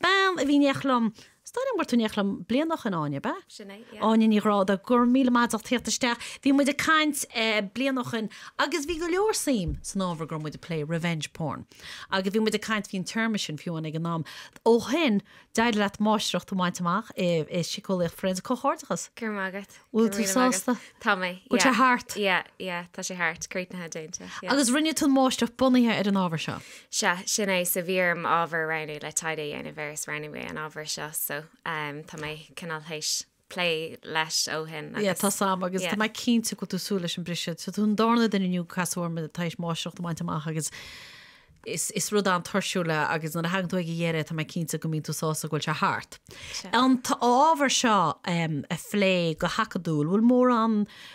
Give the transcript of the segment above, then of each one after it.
bean a bhí aréir liom, is dóigh liom go raibh tú in éineacht liom bliain ó shoin Áine, ab ea? Sin é, yeah. Áine Ní Ghráda, go raibh míle maith agat as theacht isteach. Bhí muid ag caint bliain ó shoin agus bhí go leor suim san ábhar go raibh muid ag plé, revenge porn. Agus bhí muid ag caint, bhí an téarma sin fiú ann ag an am. Ó shoin, d'éirigh leat máistreacht a bhaint amach i siceolaíocht forénsic, comhghairdeachas! Go raibh maith agat. Bhfuil tú sásta? Tá mé. Bhfuil sé thart? Ia, ia, tá sé thart. Críochnaithe déanta. Agus rinne tú máistreacht bunaithe ar an ábhar seo? Sea, sin é, so bhí orm ábhar a roghnú le taighde a dhéanamh air is roghnaigh mé an ábhar seo so ehm tá mé cineál tar éis plé leis ó shin agus. Ia, tá sos uaim agus tá mé cinnte go bhfuil tú ag súil leis an briseadh. Tá tú an darna duine inniu a casadh orm tar éis máistreacht a bhaint amach agus Is rud an-tuirsiúil é agus nuair a thagann tú ag a dheireadh tá mé cinnte go mbíonn tú sásta go bhfuil sé thart. An t-ábhar seo a phlé go hacadúil, bhfuil mórán,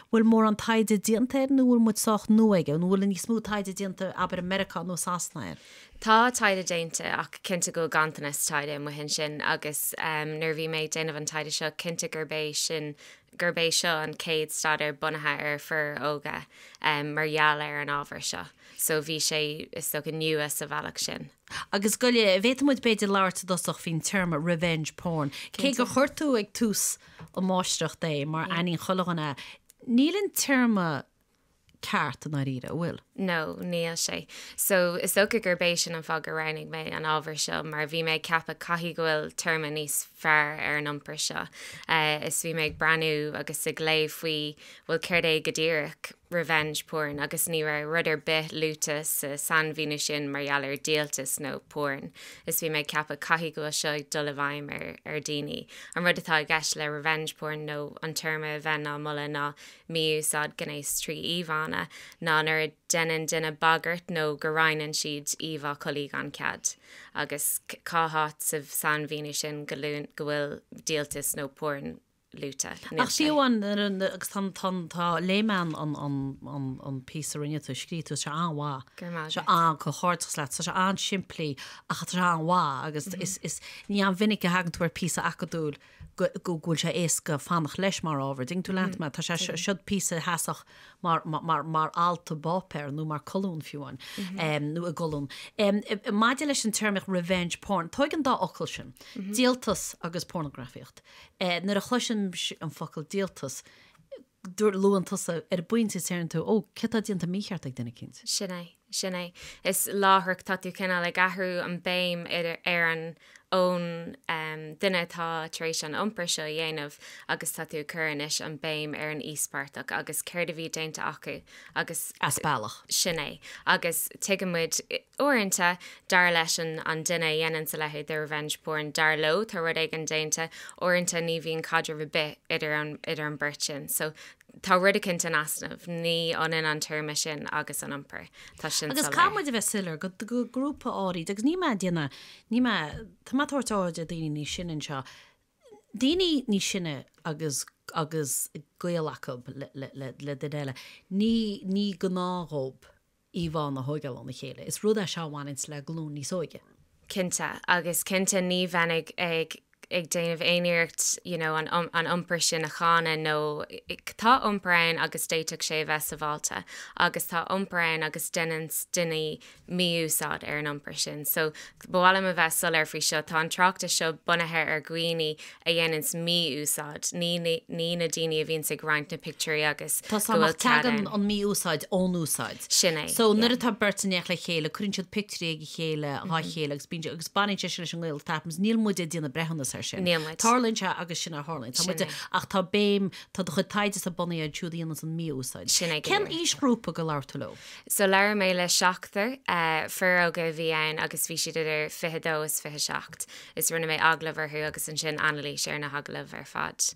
bhfuil mórán taighde déanta air nó bhfuil muid sách nua aige? Nó bhfuil níos mó taighde déanta, abair, i Meiriceá nó i Sasana air? Tá taighde déanta ach cinnte go bhfuil ganntanas taighde amuigh ansin agus nuair a bhí mé ag déanamh an taighde seo cinnte gurb é sin gurb é seo an chéad staidéar bunaithe ar fir óga mar gheall ar an ábhar seo so bhí sé, is dócha, nua sa bhealach sin. Agus an bhféadfadh muid b'fhéidir labhairt i dtosach faoin téarma revenge porn. Cé gur chuir tú ag tús an máistreacht é mar aithníonn chuile dhuine é, níl an téarma ceart i ndáiríre, an bhfuil? No, níl sé. So, is dócha gurb é sin an fáth gur roghnaigh mé an ábhar seo, mar bhí mé ag ceapadh caithfidh go bhfuil téarma níos fearr ar an iompar seo. Eh, is bhí mé ag breathnú agus ag léamh faoi, bhuel, céard é go díreach revenge porn agus ní raibh rud ar bith luaite sa sainmhíniú sin mar gheall ar díoltas nó porn. Is bhí mé ag ceapadh caithfidh go bhfuil seo ag dul i bhfeidhm ar, ar daoine. An rud atá i gceist le revenge porn nó an téarma a bheinn á moladh ná mí-úsáid gnéas trí íomhánna ná nuair a dhéanann duine bagairt nó go roinneann siad íomhá collaí gan cead, agus cá háit sa sainmhíniú sin go bhfuil díoltas nó porn luaite? Níl sé. Agus tá an layman píosa a rinne tú, a scríobh tú, is é seo an-mhaith. Go raibh maith agat. Tá sé an-, comhghairdeachas leat, tá sé an-simplí ach tá sé an-mhaith agus is ní an-mhinic a thagann tú ar phíosa acadúil. go bhfuil sé éasca fanacht leis mar ábhar, thug tú leat mé, tá sé siod píosa theasach mar, mar, mar alt i bpáipéar nó mar colún fiú amháin, nó i gcolún. Ehm, maidir leis an téarmaíocht revenge porn, tóig an dá fhocal sin, díoltas agus pornagrafaíocht. Eh, nuair a chloisim an focal díoltas, nó luann tusa ar an bpointe is deireann tú, ó, céard atá déanta mícheart ag duine eicínt? Sin é, sin é. Is láithreach tá tú cineál ag athrú an béim ar an, ón duine atá tar éis an iompar seo a dhéanamh agus tá tú ag cur anois an béim ar an íospartach agus céard a bhí déanta acu agus. As bealach. Sin é. Agus tuigimid. Uaireanta, dar leis an an duine a dhéananns a leithéid de revenge porn, dar leo, tá rud éigin déanta. Uaireanta ní bhíonn caidreamh ar bith idir an idir an bheirt sin. So, tá rud eicint in easnamh. Ní ionann an téarma sin agus an iompar. Tá sin soiléir. Agus caithfidh muid a bheith soiléir go go grúpa áirid agus ní má duine ní má tá má tá daoine níos sine anseo. Daoine níos sine agus agus gaol acub le duine eile. Ní ní gnáth dhóib. íomhánna a thógáil óna chéile. Is rud é seo a bhaineanns le glúin níos óige. cinnte, agus cinnte ní bheinn ag ag déanamh aon iarracht you know an an iompar sin a cháineadh nó tá iompar ann agus d'fhéadfadh sé a bheith sabháilte agus tá iompar ann agus deineanns daoine mí-úsáid ar an iompar sin so Ba mhaith liom a bheith soiléir faoi seo, tá an tráchtas seo bunaithe ar dhaoine a dhéananns mí-úsáid, ní na daoine a bhíonns ag roinnt na pictiúirí agus go bhfuil cead ann. Tá súil agam nach dtagann an mí-úsáid ón úsáid. Sin é. So, nuair atá beirt in éineacht le chéile, cuireann siad pictiúirí ag a chéile, dhá chéile agus bíonn, agus baineann sé sin leis an ngaol that happens, níl muide ag déanamh breithiúnas ar sin. Níl muid. Tarlaíonn sé agus sin a tharlaíonn. Tá muid, ach tá béim, tá do chuid taighdesa bunaithe ar siúd a dhéananns an mí-úsáid. Sin é go díreach. Cén aoisghrúpa go labhair tú leo? So labhair mé le seachtar, fir óga a bhí ann agus bhí siad idir fiche dó is fiche seacht, is rinne mé agallamh orthu agus ansin anailís ar na hagallaimh ar fad.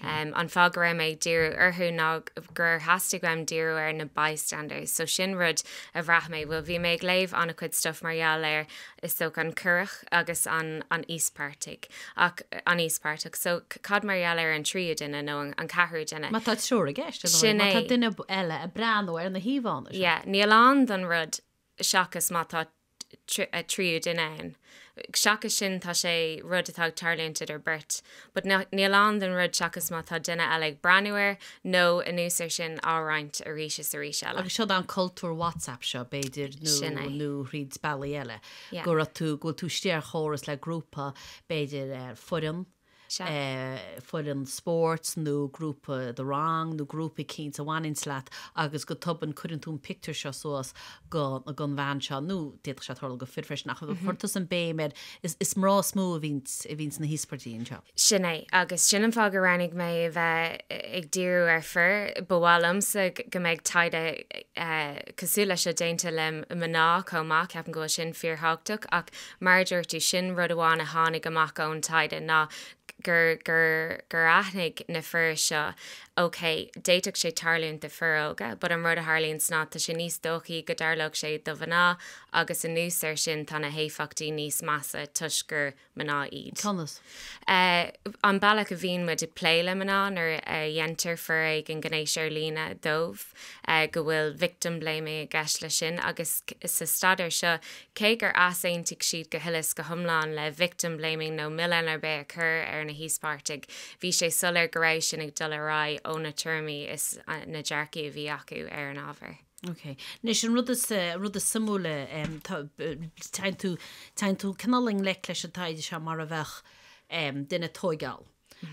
An fáth go raibh mé ag díriú orthu ná gur theastaigh uaim díriú ar na bystanders so sin rud a bhraith mé, bhuel bhí mé ag léamh an-chuid stuff mar gheall ar is dócha, an coireach agus an an íospairteach ach an íospairteach so cad mar gheall ar an tríú duine nó an ceathrú duine? Má tá triúr i gceist, ar ndóigh, má tá duine eile ag breathnú ar na híomhánna seo. Yeah, níl ann don rud seachas má tá tríú duine ann. Seachas sin tá sé rud atá ag tarlúint idir beirt But níl ann don rud seachas má tá duine eile ag breathnú air, nó anuas ar sin á roinnt arís is arís eile. Agus seo dhuit an cultúr WhatsApp seo, b'fhéidir, nó thríd bealaí eile, go raibh tú, go bhfuil tú istigh ar chóras le grúpa, b'fhéidir foireann, foireann spóirt nó grúpa dhe rang nó grúpa eicínt a bhaineanns leat agus go tobann cuireann tú an pictiúr seo suas, gon bhean seo, nó d'fhéadfadh sé tarlú go fhir freisin, ach chuir tusa an béim air gur mná is mó a bhíonn sna híospartaigh anseo. Sin é, agus sin an fáth gur roghnaigh mé a bheith ag díriú ar fir, ba mhaith liomsa go mbeidh taighde cosúil leis seo déanta le mná chomh maith, ceapaim go bhfuil sin fíor thábhachtach, ach mar a dúirt tú, sin rud amháin a tháinig amach ón taighde ná gur aithnigh na fir seo OK, d'fhéadfadh sé tarlúint do fhir óga but an rud a tharlaíonn sna, tá sé níos dóichí go dtarlódh sé do mhná agus anuas ar sin tá na héifeachtaí níos measa toisc gur mná iad. Conas? An bealach a bhíonn muid ag plé le mná nuair a dhéantar foréigean gnéis ar líne dóibh, go bhfuil victim blaming i gceist leis sin agus sa staidéar seo Cé gur easaontaigh siad go huile 's go hiomlán le victim blaming nó milleán ar bith a chur ar na híospartaigh, bhí sé soiléir go raibh sin ag dul ar aghaidh ó na tuairimí is na dearcthaí a bhí acu ar an ábhar. Ok. Anois an rud is rud is suimiúla em tá téann tú téann tú cineál i ngleic leis an taighde seo mar a bheadh em duine tógáil.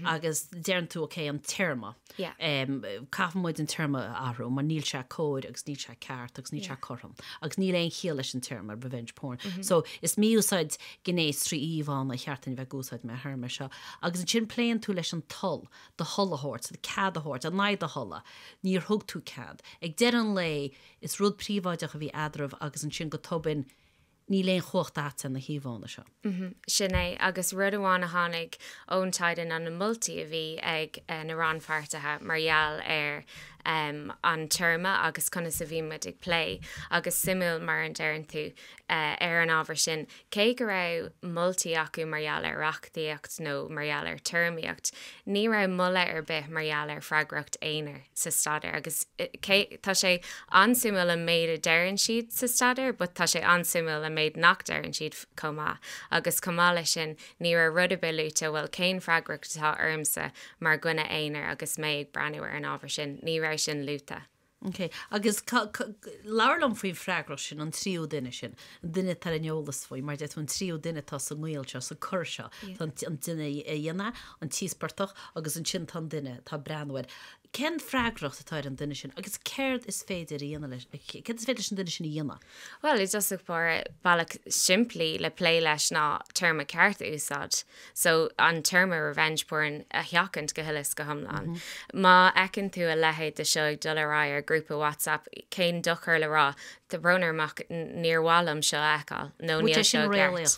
agus deireann tú ok an téarma. Yeah. Em, caithfidh muid an téarma a athrú mar níl sé cóir agus níl sé ceart agus níl sé Yeah. cothrom agus níl aon chiall leis an téarma revenge porn. So is mí-úsáid gnéis trí íomhánna ba cheart dúinn a bheith ag úsáid mar théarma seo. Agus ansin pléann tú leis an toil, do thoil a thabhairt, do chead a thabhairt, in aghaidh do thola. Níor thug tú cead. Ag deireadh an lae is rud príobháideach a bhí eadraibh agus ansin go tobann Níl aon chumhacht a't ar na híomhánna seo. Sin é, agus rud amháin a tháinig ón taighde ná na moltaí a bhí ag na rannpháirtithe mar gheall ar an téarma agus conas a bhí muid ag plé, agus suimiúil mar a deireann tú, ar an ábhar sin, cé go raibh moltaí acu mar gheall ar reachtaíocht nó mar gheall ar théarmaíocht, ní raibh moladh ar bith mar gheall ar freagracht aonair. sa staidéar agus cé, tá sé an-suimiúil an méid a deireann siad sa staidéar but tá sé an-suimiúil an méid nach deireann siad chomh maith agus chomh maith leis sin ní raibh rud ar bith luaite bhuel cén freagracht atá ormsa mar dhuine aonair agus mé ag breathnú ar an ábhar sin, ní raibh sin luaite. Ok, agus labhair liom faoin freagracht sin an tríú duine sin, an duine atá ar an eolas faoi mar deir tú an tríú duine atá sa ngaol seo, sa gcur seo, an duine a dhéanann an t-íospartach agus ansin tá an duine atá ag breathnú air, cén freagracht atá ar an duine sin agus céard is féidir a dhéanamh leis, céard is féidir leis an duine sin a dhéanamh? Bhuel, i dtosach báire, bealach simplí le plé leis ná an téarma ceart a úsáid, so an téarma revenge porn a sheachaint go huile is go hiomlán. Má fheiceann tú a leithéid de seo ag dul ar aghaidh ar ghrúpa WhatsApp, cén dochar le rá, 'Tá brón orm ach níor mhaith liom seo a fheiceáil' nó 'Níl seo i gceart'.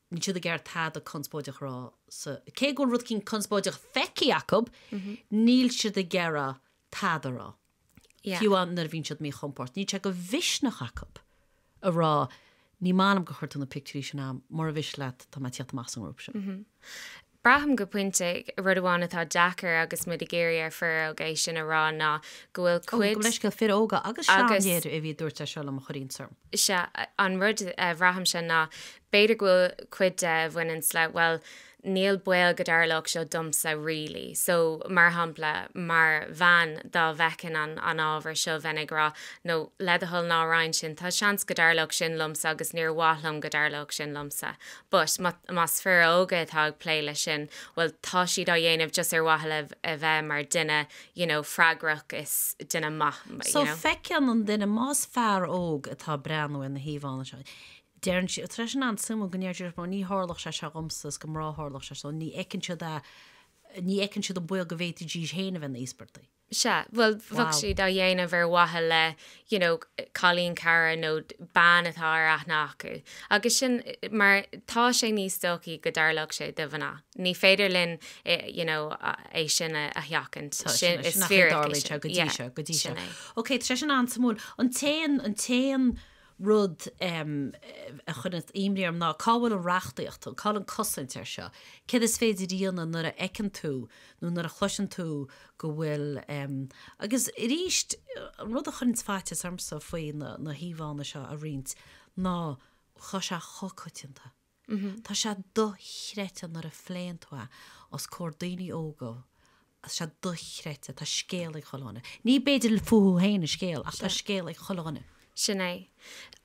níl siad ag iarraidh tada conspóideach a rá sa, cé go bhfuil rud eicínt conspóideach feicthe acu, níl siad ag iarraidh tada a rá. Yeah. Fiú am nuair a bhíonn siad míchompordach, níl sé de mhisneach acu a rá ní maith liom gur chuir tú na pictiúirí sin ann, mura miste leat tá mé ag tíocht amach as an ngrúpa sin. Braithim go pointe, rud amháin atá deacair agus muid ag iarraidh ar fhir óga é sin a rá, ná go bhfuil Ó, go cuid. leithscéal, fir óga agus sea, an agus. léiriú a bhí dúirt sé seo liom a chuir iontas orm. sea, an rud a bhraithimse ná b'fhéidir go bhfuil cuid de a bhaineanns le, bhuel, níl baol go dtarlódh seo domsa really. So, mar shampla, mar bhean, dá bhfeicinn an an ábhar seo bheinn ag rá no, le do thoil ná roinn sin, tá seans go dtarlódh sin liomsa agus níor mhaith liom go dtarlódh sin liomsa. but más fir óga atá ag plé leis sin bhuel tá siad á dhéanamh just ar mhaithe le a bheith mar duine you know freagrach is duine maith you know. So feiceann an duine más fear óg atá ag breathnú ar na híomhánna seo deireann siad tá sé sin an-suimiúil ach déarfadh sé ní tharlódh sé seo dhomsa is do mhná a tharlódh sé so ní fheiceann siad a ní fheiceann siad an baol go bhféadfaidís féin a bheith ina n-íospartaigh. Sea, bhuel, bheadh siad á dhéanamh ar mhaithe le, you know, cailín cara nó bean atá ar aithne acu. Agus sin mar tá sé níos dóichí go dtarlódh sé do mhná. Ní féidir linn, you know, é sin a sheachaint. Sin nach dtarlaíonn sé go dtí seo, go dtí seo. Sin é. OK, tá sé sin an-suimiúil. An t-aon, an t-aon rud a chuireann imní orm ná cá bhfuil an reachtaíocht, cá bhfuil an cosaint ar seo? Céard is féidir a dhéanamh nuair a fheiceann tú nó nuair a chloiseann tú go bhfuil. Agus arís, an rud a chuireanns faitíos ormsa faoi na híomhánna seo a roinnt ná tá sé chomh coitianta. Tá sé dochreidte nuair a phléann tú é os comhair daoine óga, tá sé dochreidte, tá scéal ag chuile dhuine. Ní b'fhéidir fúthu féin an scéal ach tá scéal ag chuile dhuine. Sin é.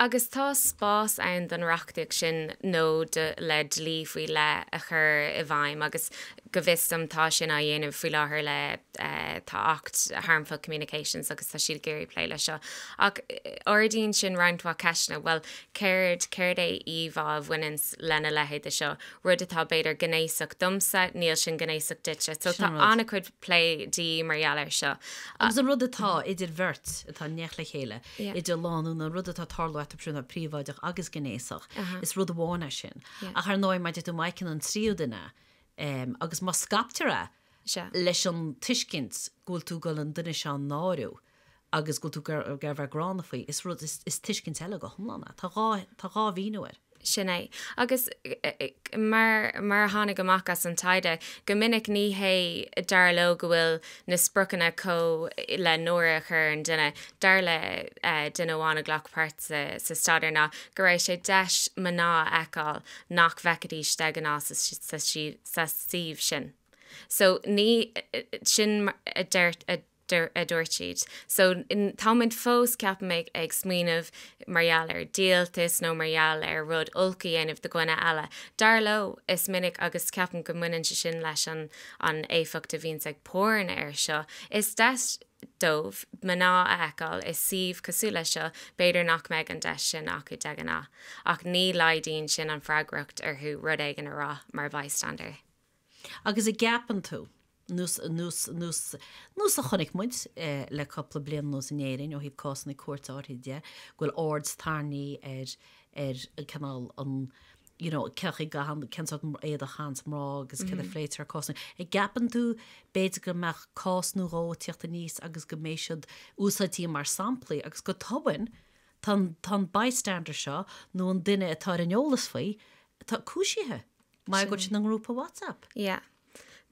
Agus tá spás ann don reachtaíocht sin nó do, le, dlí faoi leith a chur i bhfeidhm agus Go bhfios dom tá sin á dhéanamh faoi láthair le tá acht Harmful Communications agus tá siad ag iarraidh plé leis seo. Ach ardaíonn sin roinnt mhaith ceisteanna, bhuel céard, céard é íomhá a bhaineanns lena leithéid de seo? Rud atá b'fhéidir gnéasach domsa, níl sin gnéasach duitse. So tá an-chuid plé de dhíth mar gheall air seo. Agus an rud atá idir bheirt atá i ngleic le chéile, idir lánúin, an rud atá ag tarlú eatarthu tá sé príobháideach agus gnéasach, is rud amháin é sin. Ach ar ndóigh má thugann tú isteach ann an tríú duine, agus má scaiptear é leis an tuiscint go bhfuil tú dul an duine seo a náiriú agus go bhfuil tú ag iarraidh a bheith gránna faoi, is rud, is tuiscint eile go hiomlán é. Tá dhá, tá dhá mhíniú air. Sin é. Agus mar, mar a tháinig amach as an taighde, go minic ní hé, dar leo go bhfuil na spriocanna chun, le náire a chur ar an duine, dar le duine amháin a ghlac páirt sa staidéar ná go raibh sé deis mná a fheiceáil nach bhfeicfidís de ghnáth sa suíomh sin so ní, sin a dúirt siad so tá muid fós, ceapaim, ag smaoineamh mar gheall ar díoltas nó mar gheall ar rud olc a dhéanamh do dhuine eile. Dar leo is minic agus ceapaim go mbaineann sé sin leis an an éifeacht a bhíonns ag porn air seo, is deis dóibh mná a fheiceáil i suíomh cosúil leis seo, b'fhéidir nach mbeidh an deis sin acu de ghnáth. Ach ní laghdaíonn sin an freagracht orthu rud éigin a rá mar bystander. Agus an gceapann tú, ar nós ar nós a chonaic muid le cúpla bliain anuas in Éirinn ó thaobh cásanna cúirte áirithe de, go bhfuil aird tarraingthe ar ar an cineál an you know céard faoi a chaitheann, cén sort éadach a chaitheanns mná agus céard a phléitear i gcásanna. An gceapann tú b'fhéidir go mbeadh cás nó dhó ag tíocht aníos agus go mbeidh siad úsáidte mar samplaí agus go tobann Tá an bystander seo, nó an duine atá ar an eolas faoi, tá cúisithe. Mar go raibh siad ina ngrúpa WhatsApp? Yeah.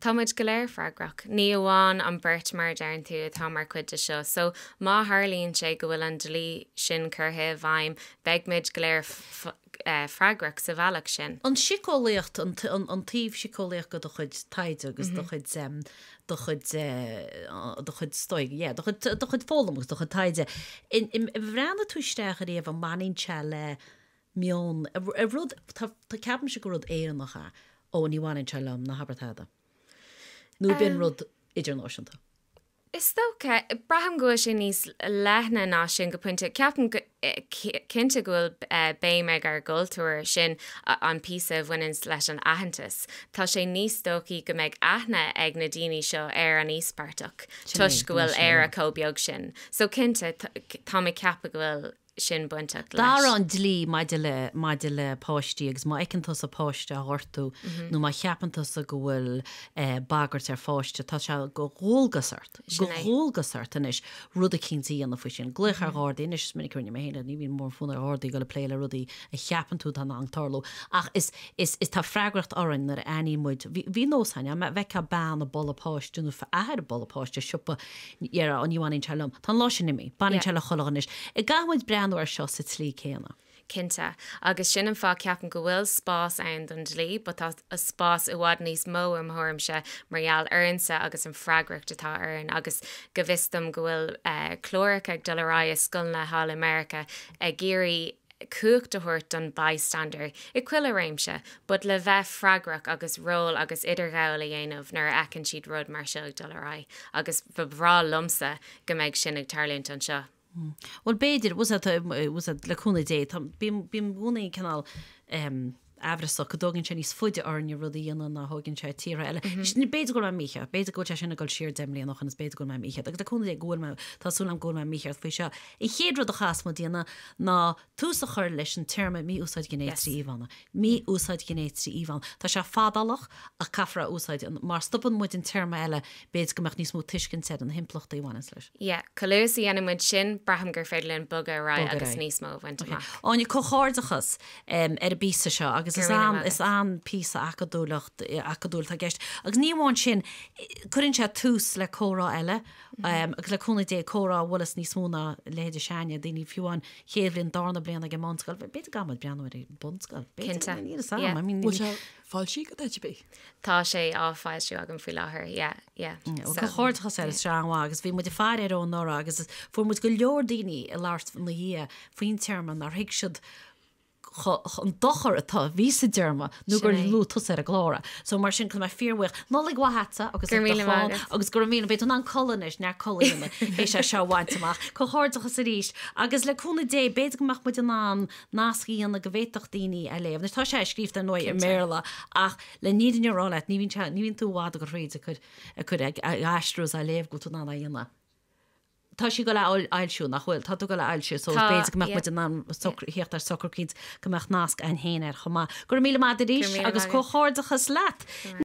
Tá muid go léir freagrach. Ní amháin an beirt mar a deireann tú atá mar chuid de seo. So má tharlaíonn sé go bhfuil an dlí sin curtha i bhfeidhm beidh muid go léir f, freagrach sa bhealach sin. An síceolaíocht, an taobh síceolaíocht de do chuid taighde agus do chuid, do chuid, do chuid stoic, yeah, do chuid, do chuid foghlama agus do chuid taighde. Ar bhreathnaigh tú isteach ariamh an mbaineann sé le meon, rud, tá, ceapaimse gur rud Éireannach é, ó ní bhaineann sé liom, na habair tada. Nó ab in rud idirnáisiúnta. Is dócha, braithim go bhfuil sé níos leithne ná sin go pointe. Ceapaim cinnte go bhfuil baint ag ár gcultúr sin an píosa a bhaineann leis an aitheantas. Tá sé níos dóichí go mbeidh aithne ag na daoine seo ar an íospartach toisc go bhfuil Éire chomh beag sin. So cinnte, táim ag ceapadh go bhfuil. sin bainteach leis. D'athraigh an dlí maidir le maidir le páistí agus má fheiceann tusa páiste á ghortú nó má cheapann tusa go bhfuil bagairt ar pháiste, tá sé de dhualgas ort de dhualgas ort anois rud eicínt a dhéanamh faoi sin. Glaoch ar Ghardaí anois, is minic a rinne mé féin é, ní bhíonn mórfhonn ar Ghardaí dul ag plé le rudaí a cheapann tú atá in ann tarlú ach is is is tá freagracht orainn nuair a aithníonn muid, bhí nós againn, dá bhfeicfeá bean ag bualadh páiste nó athair ag bualadh páiste i siopa, Déarfá, Ó ní bhaineann sé liom. Tá an lá sin imithe. Baineann sé le chuile dhuine anois. An gcaithfidh muid breathnú air seo sa tslí céanna. Cinnte. Agus sin an fáth ceapaim go bhfuil spás ann don dlí, but tá spás i bhfad níos mó i mo thuairimse mar gheall orainsa agus an freagracht atá orainn agus go bhfios dom go bhfuil cláracha ag dul ar aghaidh i scoileanna thall i Meiriceá ag iarraidh cumhacht a thabhairt don bystander i chuile réimse but le bheith freagrach agus ról agus idirghabháil a dhéanamh nuair a fheiceann siad rud mar seo ag dul ar aghaidh agus ba bhreá liomsa go mbeidh sin ag tarlúint anseo. Bhuel b'fhéidir, le cúnamh Dé, bím i gcónaí cineál, aimhreasach go dtógann sé níos faide orainne rud a dhéanamh ná thógann sé tíortha eile. Now b'fhéidir go raibh mé mícheart, b'fhéidir go bhfuil sé sin ag dul siar deich mbliana ó shoin, is b'fhéidir go raibh mé mícheart, agus le cúnamh Dé go bhfuil mé, tá súil agam go bhfuil mé mícheart faoi seo. An chéad rud a chaithfeas muid a dhéanamh ná tús a chur leis an téarma mí-úsáid ghnéis trí íomhánna. Mí-úsáid ghnéis trí íomhánna. Tá sé fadálach, ach caithfear a úsáid mar má stopann muid an téarma eile, b'fhéidir go mbeadh níos mó tuiscint ar na himpleachtaí a bhaineanns leis. Yeah, chomh luath is a dhéanann muid sin, braithim gur féidir linn bogadh ar aghaidh agus níos mó a bhaint amach. Ok, Áine, comhghairdeachas ar an bpíosa seo agus is Go raibh míle an, is míle. an píosa acadúileacht, acadúil atá i gceist. Agus ní amháin sin, cuireann sé tús le comhrá eile agus le cúnamh Dé, comhrá a bhainfeas níos mó ná leithéidí sinne, daoine fiú an chéad bhliain darna bliain ag an mbunscoil, bhí- b'fhéidir go bhfuil muid ag breathnú ar an bunscoil, b'fhéidir, Cinnte, níl 'fhios a'm, yeah. I mean, Bhfuil sé foilsithe agat, by the by? Tá sé á fhoilsiú agam faoi láthair, yeah. Comhghairdeachas arís an-mhaith agus bhí muid ag fanacht air ó anuraidh agus fuair muid go leor daoine ag labhairt ina dhiaidh faoin téarma nár thuig siad an dochar atá a bhí sa dtéarma nó gur luaigh tusa ar an gclár. So mar sin tá mé fíor bhuíoch. Nollaig mhaith agatsa agus ag do chlann agus go raibh míle, beidh tú in ann codladh anois, neart codladh a dhéanamh théis é seo a bhaint amach. Comhghairdeachas arís agus le cúnamh Dé b'fhéidir go mbeadh muid in ann nasc a dhéanamh go bhféadfadh daoine é a léamh. Anois tá sé scríofa ar ndóigh i mBéarla ach, leis an fhírinne a rá leat, ní bhíonn sé, ní bhíonn tú i bhfad ag gabháil thríd ag cur, ag cur, ag, ag aistriú is á léamh go bhfuil tú in ann é a dhéanamh. Tá sé ag gabháil é a fhoil, fhoilsiú, nach bhfuil? Tá tú ag gabháil é a fhoilsiú, so Tá, b'fhéidir go mbeadh muid yeah, in ann yeah. socr, thíocht ar socrú eicínt go mbeadh nasc againn féin air chomh maith. Go raibh míle maith Go raibh a'd arís míle agus maith agat. comhghairdeachas leat. Go raibh.